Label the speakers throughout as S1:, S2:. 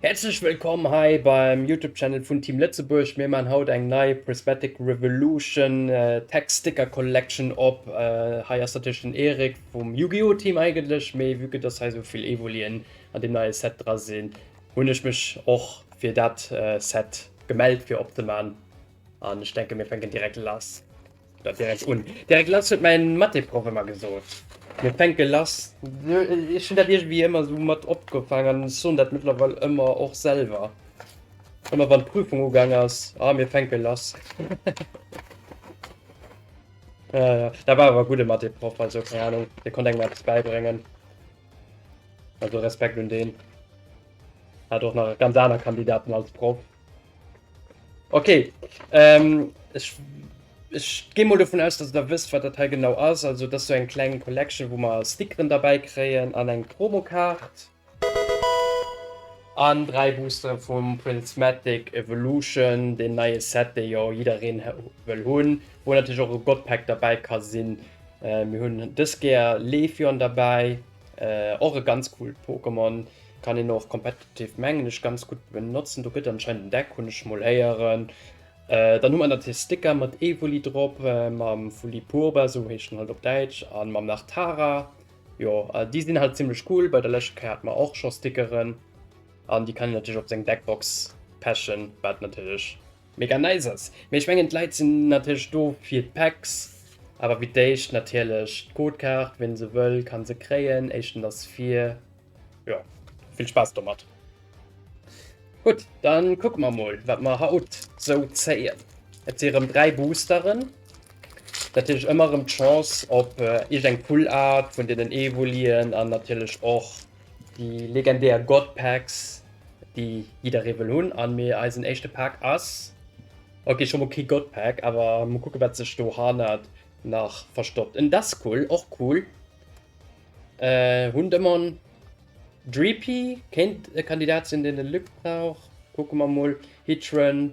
S1: Häerzlech wëllkomm hei beim Youtube Channel vun Team Lëtzebuerg. Mir man haut eng nei Prismatic Revolution Tech Sticker Collection op. Hei ass natierlech den Erik vum Yu-Gi-Oh Team eigentlech, mee vue que dass hei sou vill Evolien an dem neie Set dra sinn, hunn ech mech och fir dat Set gemellt fir opzeman an ech denken mir fänken direkt lass. Dann direkt un. Direkt lass huet mäin Matheproff ëmmer gesot. Mir fänke lass. Ech hunn dat iergendwéi ëmmer esou mat opgefaangen an ech soen dat mëttlerweil ëmmer och selwer. Ëmmer wann d'Prüfung ugaang ass, Ah, mir fänke lass. Jo, jo. Dat war awer e gudde Matheproff, also keng Anung, dee konnt engem eppes bäibréngen. Also Respekt un deen. Hat och nach ganz aner Kandidaten als Proff. Okay, ähm, ich, ich gehe mal davon aus, dass ihr wisst, was das hier genau ist. Also, das ist so eine kleine Collection, wo wir Stickeren dabei kriegen an eine Promokarte. An drei Booster vom Prismatic Evolution, den neuen Set, den ja jeder will haben, wo natürlich auch ein Godpack dabei kann sein. Äh, wir haben das Gear Levion dabei. Äh och e ganz coolt Pokémon, kann een och competitive mengen ech ganz gutt benotzen, do gëtt anscheinend en Deck, hunn ech mol héieren. Äh dann hu mer natierlech Sticker mat Evoli drop, mam Fulipurba, sou heescht en halt op Däitsch, a mam Lartara, jo déi sinn halt zimmlech cool, bei der leschter Kéier hat mer och scho Stickeren an déi kann een natierlech op seng Deckbox pechen, wat natierlech Mega nice ass, mee ech mengen d'Leit sinn natierlech do fir d'Packs, awer wéi d'éischt natierlech d'Codekaart, ween se wëll kann se kréien, éischten ass vir, jo vill Spaass domat. Gutt dann kucke mer mol wat mer haut sou zéien, et si rëm 3 Boosteren, natierlech ëmmer rëm d'Chance op iergend eng Full Art vun deenen Evolien an natierlech och déi legendär God Packs. déi jidderee wëll hunn. An mee eisen éischte Pak ass, ok scho mol kee God Pak, awer mol kucke wat sech do hannert nach verstoppt. En Duskull, och cool. Äh, hunn Demon. Dreepy kéint e Kandidat sinn deen de Luc brauch. Kucke mer mol. Heatran.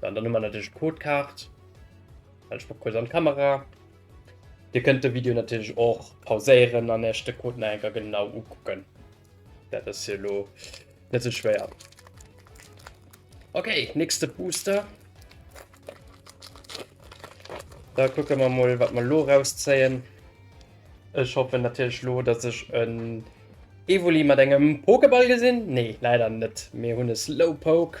S1: Dann dann man natürlich Codekart. Dann ich kurz an Kamera. Dir könnt de Video natürlich auch pauséieren an echte Coden enker genau ukucken. Dat ass hier lo net so schwer. Okay, nächste Booster. Da gucken wir mal, was wir lo rausziehen. Ich hoffe natürlich lo, dass ich ein Evoli mit engem Pokéball gesinn? Nee, leider net. Mir hunn e Slowpoke.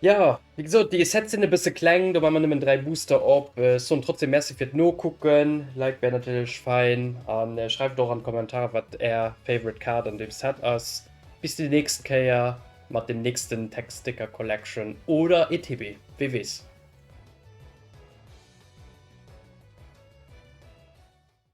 S1: Ja, wéi gesot, déi Sets sinn e bësse kleng, do maan mer nëmmen 3 Booster op. Ech soen trotzdem Merci fir d'Nokucken, Like wär natierlech fein an schreift och an d'Kommentare wat är favorite Kaart an deem Set ass. Bis déi nächst Kéier mat dem nächsten Text Sticker Collection oder ETB, wee weess.